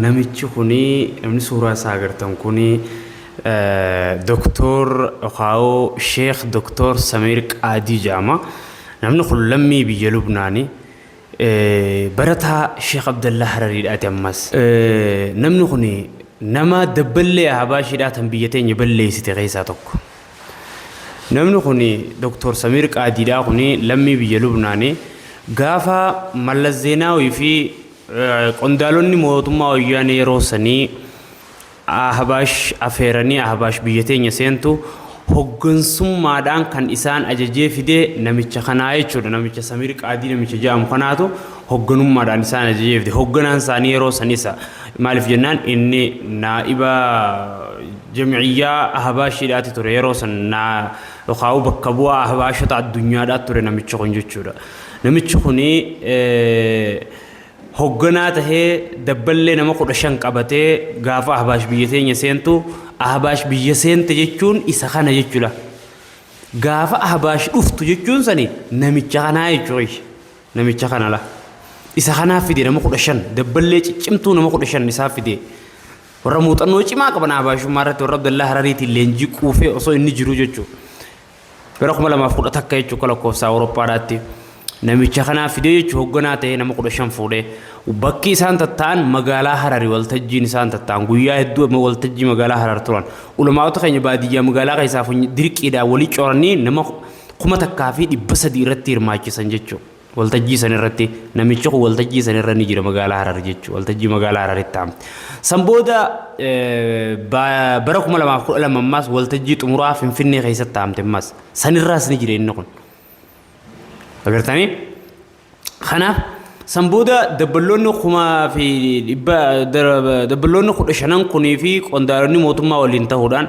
Namichi kuni namni suuraa isaa agartan kuni Doktoor Okaawoo Sheekh Doktoor Samiir Qaadii jedhama. Namni kun lammii biyya Lubnaani. Barataa Sheekh Abdallaa Harariidhaati ammas. Namni kuni nama dabballee Ahabaashiidhaa tan biyya teenya balleessite keessaa tokko. Namni kuni Doktoor Samiir Qaadiidhaa kuni lammii biyya Lubnaani. Gaafa Mallas Zeenaawii fi Qondaalonni mootummaa Wayyaanee yeroo sanii Ahbaash afeeranii Ahbaash biyya teenya seentu hoggansummaadhaan kan isaan ajajee fide namicha kanaa jechuudha. Namicha Samiir Qaadii namicha jedhamu kanaatu hogganummaadhaan isaan ajajee fide. Hogganaan isaanii yeroo san isa. Maaliif jennaan inni naa'iba jam'iyyaa Ahbaashiidhaati ture yeroo san naa yookaan bakka bu'aa Ahbaashota addunyaadhaa ture namichi kun jechuudha. Namichi kun hogganaa tahee dabballee nama kudha shan qabatee gaafa Ahbaash biyya teenya seentu Ahbaash biyya seente jechuun isa kana jechuudha. Gaafa Ahbaash dhuftu jechuun sani namicha kanaa jechuudha. Namicha kanala. Isa kanaa fide nama kudha shan dabballee ciccimtuu nama kudha shan isaa fide. Warra muuxannoo cimaa qaban Ahbaashummaa irratti warra Abdallaa Harariitiin leenjii quufee osoo inni jiru jechuudha. Bara 2010 akka jechuun akka lakkoofsa Awurooppaadhaatti namicha kanaa fidee jechuun hoogganaa ta'ee nama 15 fuudhee bakki isaan tatta'an magaalaa Harari waltajjiin isaan tatta'an guyyaa hedduu amma waltajjii magaalaa Harar turan. Ulamaa'ota keenya baadiyyaa magaalaa keessaa dirqiidhaan walii coranii nama kuma takkaa fi dhibba sadii irratti hirmaachisan jechuudha. Waltajjii san irratti namichi kun waltajjii san irra ni jira magaalaa Harar jechuudha. Waltajjii magaalaa Hararitti ta'a. San booda eh, ba- bara 2012 ammaas waltajjii xumuraa Finfinnee keessatti taa'amte ammaas. San irraas ni jira inni kun. Agartanii? Kanaaf san booda dabballoonni kumaa fi dhibba dar- dabballoonni kudha shanan kunii fi qondaalonni mootummaa waliin ta'uudhaan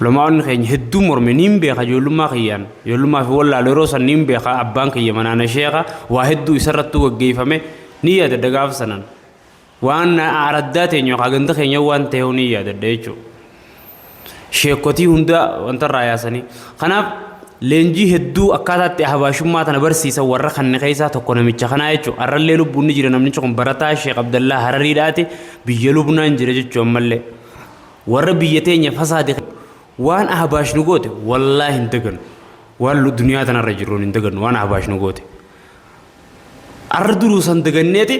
Ulamaa'onni keenya hedduun morme niin beeka ijoollummaa kiyyaan ijoollummaa fi wallaalu yeroo san niin beeka abbaan kiyya manaana sheeka waa hedduu isarrattuu gaggeeffame niin yaadadha gaafa sanan waan araddaa teenya yookaan ganda keenya waan ta'eehu niin yaadadha jechuudha. Sheekotii hundaa wantarraa yaasanii kanaaf leenjii hedduu akkaataatti ahbaashummaa tana barsiisan warra kanne keessaa tokko namicha kanaa jechuudha. Arrallee lubbuun ni jira namnichi kun barataa Sheek Abdallaa Harariidhaati biyya Lubnaan jira jechuudha ammallee. Warra biyya teenya fasaade kana waan Ahbaash nu goote wallaahi hin dagannu. Waan lu- duniyaa tanarra jirruun hin dagannu waan Ahbaash nu goote. Arra duruu san daganneeti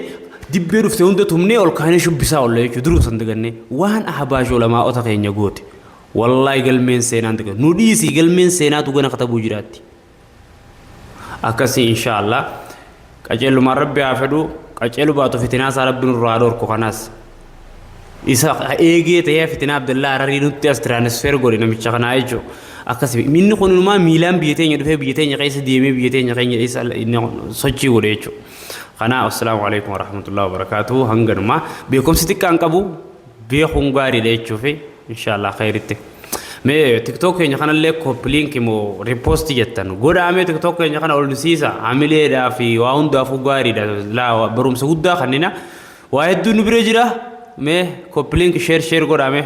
dibbee dhufte hunda tumnee ol kaanee shubbisaa olle jechuudha duruu san dagannee waan Ahbaash olamaa'ota keenya goote. Wallaahi galmeen seenaan dagannu. Nu dhiisii galmeen seenaatu gana katabuu jiraatti. akkasii insha allah qaceellumaan rabbi haa fedhu qaceelu baatu fitinaa isaa rabbi nurraa haa dhorku kanaas isa eegee ta'ee fitinaa abdallaa hararii nutti as tiraanisfeer godhe namicha kanaa jechuu akkasii inni kun inumaa miilaan biyya teenya dhufee biyya teenya keessa deemee biyya teenya keenya isa inni sochii godhe jechuu kanaa assalaamu alaikum warahmatullahi wabarakaatuhu hanganuma beekumsi xiqqaan qabu beekuun gaariidha jechuufi inshaallah khayritti mee tiktok keenya kanallee koppiliinki moo riposti jettan godhaa mee tiktok keenya kana olsiisa hamileedhaa fi waa hundaafuu gaariidha laa barumsa guddaa kannina waa hedduu nu bira jira mee koppiliinki sheer sheer godhaa mee